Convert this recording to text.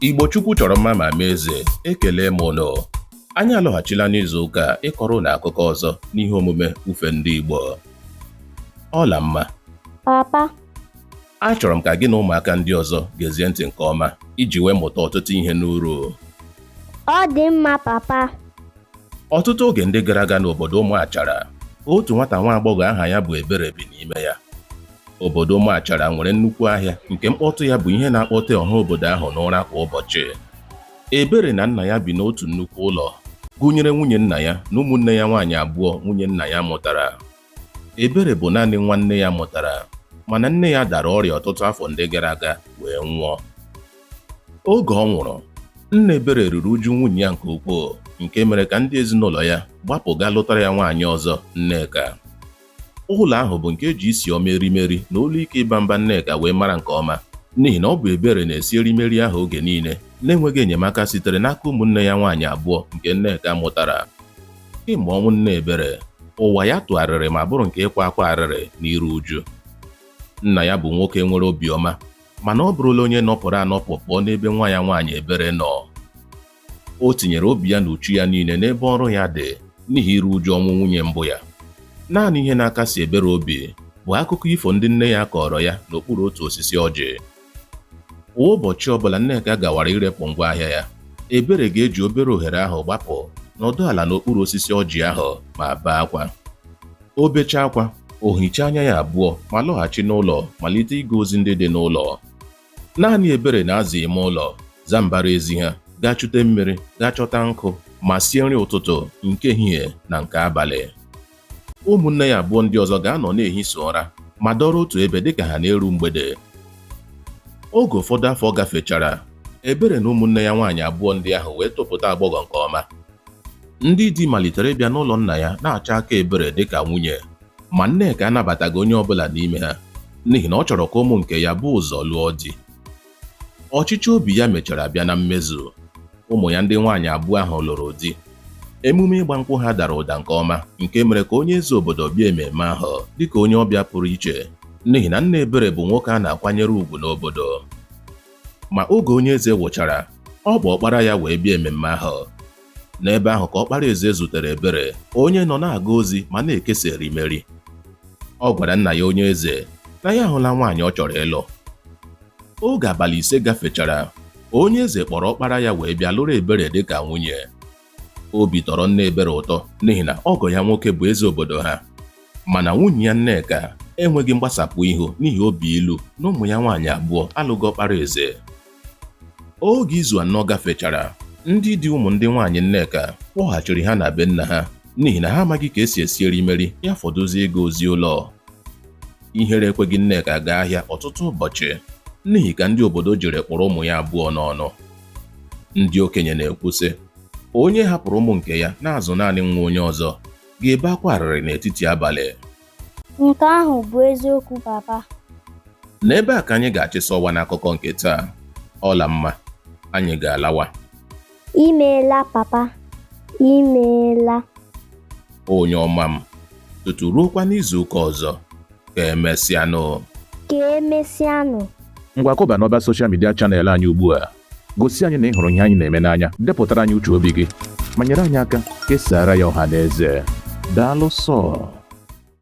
Igbo Chukwu chọrọ mma ma mee eze ekele m ụnụ anyị alọghachila n'izu ụka a ịkọrọ ụnụ akụkọ ọzọ n'ihe omume ufe ndị Igbo Ọlamma papa achọrọ m ka gị na ụmụaka ndị ọzọ gezie ntị nke ọma iji wee mụta ọtụtụ ihe n'uru ọ dị mma papa ọtụtụ oge ndị gara aga n'obodo Ụmụachara otu nwata nwa agbọghọ aha ya bụ Ebere bi n'ime ya Obodo Ụmụachara nwere nnukwu ahịa nke mkpọtụ ya bụ ihe na-akpọte ọha obodo ahụ n'ụra kwa ụbọchị. Ebere na nna ya bi n'otu nnukwu ụlọ, gụnyere nwunye nna ya na ụmụnne ya nwaanyị abụọ nwunye nna ya mụtara. Ebere bụ naanị nwa nne ya mụtara, mana nne ya dara ọrịa ọtụtụ afọ ndị gara aga wee nwụọ. Oge ọ nwụrụ, nna Ebere ruru uju nwunye ya nke ukwuu nke mere ka ndị ezinụlọ ya gbapụ gaa lụtara ya nwaanyị ọzọ, Nneka. Ụlọ ahụ bụ nke e ji isi ọma erimeri na olu ike ịba mba Nneka wee mara nke ọma n'ihi na ọ bụ Ebere na-esi erimeri ahụ oge niile na-enweghị enyemaka sitere n'aka ụmụnne ya nwaanyị abụọ nke Nneka mụtara. Kemgbe ọnwụ nne Ebere, ụwa ya tụgharịrị ma bụrụ nke ịkwa akwa arịrị na iru uju. Nna ya bụ nwoke nwere obiọma mana ọ bụrụla onye nọpụrụ anọpụ pụọ n'ebe nwa ya nwaanyị Ebere nọ. O tinyere obi ya na uchu ya niile n'ebe ọrụ ya dị n'ihi iru uju ọnwụ nwunye mbụ ya. Naanị ihe na-akasi Ebere obi bụ akụkọ ifo ndị nne ya kọọrọ ya n'okpuru otu osisi ọjị. Kwa ụbọchị ọbụla Nneka gawara irepụ ngwa ahịa ya, Ebere ga-eji obere ohere ahụ gbapụ nọdụ ala n'okpuru osisi ọjị ahụ ma bee akwa. O bechaa akwa, o hichaa anya ya abụọ ma lọghachi n'ụlọ malite ịga ozi ndị dị n'ụlọ. Naanị Ebere na-aza ime ụlọ, zaa mbara ezi ha, gaa chute mmiri, gaa chọta nkụ, ma sie nri ụtụtụ, nke ehihie, na nke abalị. Ụmụnne ya abụọ ndị ọzọ ga-anọ na-ehi sọ ụra ma dọrọ otu ebe dịka ha na-eru mgbede. Oge ụfọdụ afọ gafechara, Ebere na ụmụnne ya nwaanyị abụọ ndị ahụ wee topụta agbọghọ nke ọma. Ndị di malitere ịbịa n'ụlọ nna ya na-achọ aka Ebere dịka nwunye. ma Nneka anabataghị onye ọbụla n'ime ha n'ihi na ọ chọrọ ka ụmụ nke ya bu ụzọ lụọ di ọchịchọ obi ya mechara bịa na mmezu ụmụ ya ndị nwaanyị abụọ ahụ lụrụ di emume ịgba nkwụ ha dara ụda nke ọma nke mere ka onye eze obodo bịa ememe ahụ dịka onye ọbịa pụrụ iche n'ihi na nna Ebere bụ nwoke a na-akwanyere ugwu n'obodo ma oge onye eze wụchara ọ kpọ ọkpara ya wee bịa ememme ahụ N'ebe ahụ ka ọkpara eze zutere Ebere, onye nọ na-aga ozi ma na-ekesa erimeri. Ọ gwara nna ya onye eze na ya ahụla nwaanyị ọ chọrọ ịlụ. Oge abalị ise gafechara, onye eze kpọrọ ọkpara ya wee bịa lụrụ Ebere dị ka nwunye. Obi tọrọ nna Ebere ụtọ n'ihi na ọgọ ya nwoke bụ eze obodo ha. Mana nwunye ya Nneka enweghị mgbasapụ ihu n'ihi obi ilu na ụmụ ya nwaanyị abụọ alụghị ọkpara eze. Oge izu anọ gafechara, ndị di ụmụ ndị nwaanyị Nneka kpọghachiri ha na be nna ha n'ihi na ha amaghị ka esi esi erimeri ya fọdụzie ịga ozi ụlọ. Ihere ekweghị Nneka gaa ahịa ọtụtụ ụbọchị n'ihi ka ndị obodo jiri kpụrụ ụmụ ya abụọ n'ọnụ. Ndị okenye na-ekwu sị, onye hapụrụ ụmụ nke ya na-azụ naanị nwa onye ọzọ ga-ebe akwa arịrị n'etiti abalị. Nke ahụ bụ eziokwu papa. N'ebe a ka anyị ga-achịsa ọwa n'akụkọ nke taa. Ọlamma, anyị ga-alawa. Imeela papa, imeela. Onye ọma m, tutu ruokwa n'izu ụka ọzọ, ka emesịanụ. Ka emesịanụ. Ngwa kụba n'ọba soshal midia chanel anyị ugbu a. Gosi anyị na ị hụrụ ihe anyị na-eme n'anya, depụtara anyị uche obi gị, ma nyere anyị aka kesaara ya ọha na eze. Daalụ sọọ.